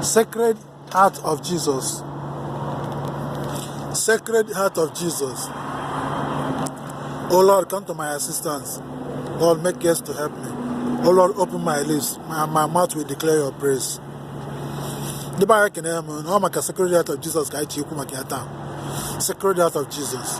Sacred Heart of Jesus Sacred Heart of Jesus Oh Lord, come to my assistance. Lord, make haste to help me. Oh Lord, open my lips. My, my mouth will declare your praise. ndị be anyị ekene m ụnụ ọ maka Sacred Heart of Jesus ka anyị ji ekwu maka ya taa Sacred Heart of Jesus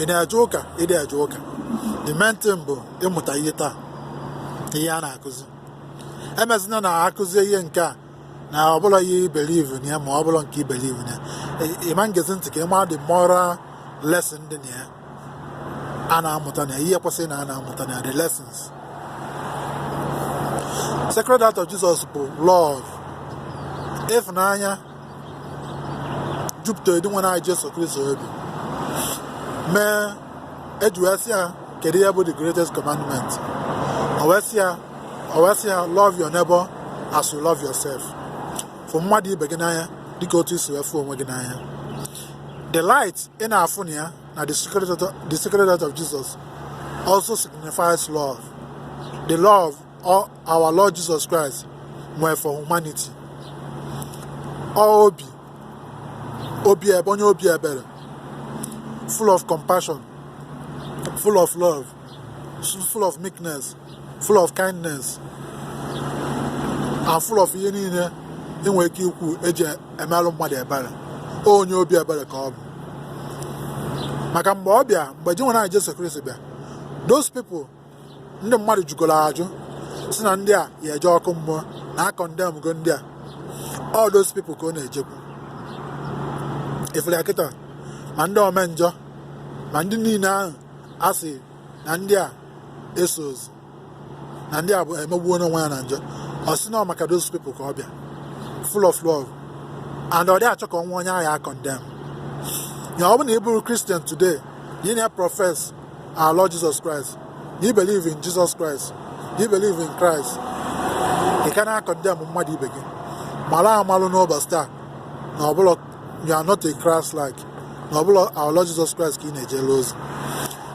ị na-eje ụka ị na-eje ụka the main thing bụ ịmụta ihe taa ihe a na-akụzi emezina na-akụzi ihe nke a na ọ bụla ihe ị believe na ya ma ọ bụla nke ị believe na ya ịma ngezi ntị ka ị ma the moral lesson dị na ya a na-amụta na ya ihe kwesịrị na a na-amụta na ya the lessons Sacred Heart of Jesus bụ love ịfụnanya jupụtara Dinwenụ anyị Jesu Kristo obi mee eji wee sị ya kedu ihe bụ the greatest commandment o wee sị ya love your neighbor as you love yourself fụ mmadụ ibe gị n'anya dịka otu isi wee fụ onwe gị n'anya the light ị na-afụ na ya na the Sacred Heart of Jesus also signifies love the love Ọ our Lord Jesus Christ nwee for humanity ọ obi obi ebe onye obi ebere full of compassion full of love full of meekness full of kindness and full of ihe niile ị nwere ike ikwu eji emelụ mmadụ ebere onye obi ebere ka ọ bụ maka mgbe ọ bịa mgbe Dinwenụ anyị Jesu Kristi bịa those people ndị mmadụ jụgoro ajụ sị na ndị a ya eje ọkụ mmụọ na akọndemgo ndị a all those people ka ọ na-ejekwu ifere kịta ma ndị omenjọ ma ndị niile ahụ a sị na ndị a esozi na ndị a bụ emegbuo n'onwe ya na njọ ọ sị na ọ maka those people ka ọ bịa full of love and ọ dị achọ ka o nwee onye a ya-akọndem ya ọ bụ na ị bụrụ Christian today na ị na-eprofes our Lord Jesus Christ, ị believe in Jesus Christ, ị believe in Christ, ị ka na-akọndem mmadụ ibe gị mara amalụ n'ụbọchị taa na ọ bụla you are not a Christ like na ọ bụla our Lord Jesus Christ ka ị na-ejere ozi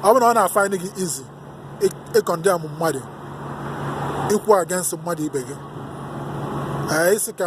ọ bụrụ na ọ na-afaịnị gị easy ịkọndem mmadụ ikwu against mmadụ ibe gị ee isi ka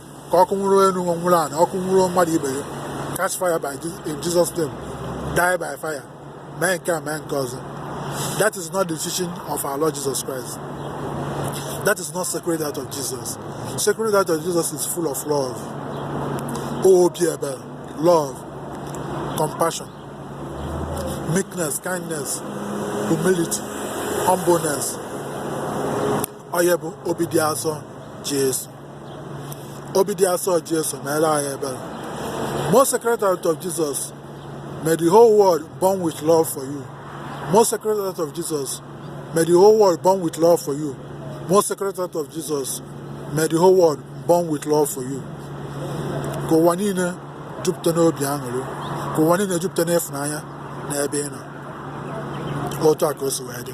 ka ọkụ nwụrụ elu nwụrụ ana ọkụ nwụrụ mmadụ ibe ya catch fire in Jesus name die by fire mee nke a mee nke ọzọ that is not the teaching of our Lord Jesus Christ that is not sacred heart of Jesus sacred heart of Jesus is full of love obi ebere love compassion meekness kindness humility humbleness ọ ya bụ obi dị asọ Jesu obi dị asọ Jesu mere anyị ebere most sacred heart of Jesus may the whole world burn with love for you most sacred heart of Jesus may the whole world burn with love for you most sacred heart of Jesus may the whole world burn with love for you ka ụwa niile jupụta n'obi aṅụrị ka ụwa niile jupụta n'ịfụnanya n'ebe ị nọ otu a ka o si wee dị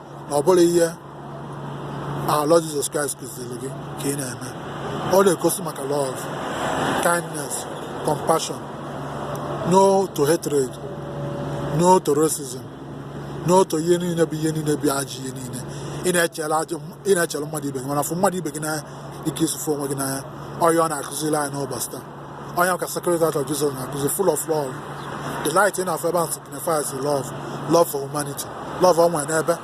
na ọ bụrọ ihe our Lord Jesus Christ kụziri gị ka ị na-eme ọ na-egosi maka love kindness compassion no to hatred no to racism no to ihe niile bụ ihe niile bụ ajọ ihe niile ị na-echere mmadụ ibe gị mana fụ mmadụ ibe gị n'anya ike i si fụ onwe gị n'anya ọ ya ọ na-akụziri anyị n'ụbọchị taa ọ ya ka sacred heart of jesus na-akụzi full of love the light ị na-afụ ebe a signifies love love for humanity love ọ nwere n'ebe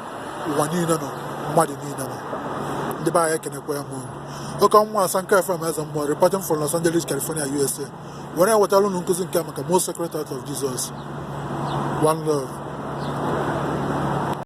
ụwa niile nọ mmadụ niile nọ ndị be anyị ekenekwaa m ụnụ oke ọnwa asa nke fm eze mmụọ reporting from los angeles california usa were ewetara ụnụ nkụzi nke maka most sacred heart of jesus one love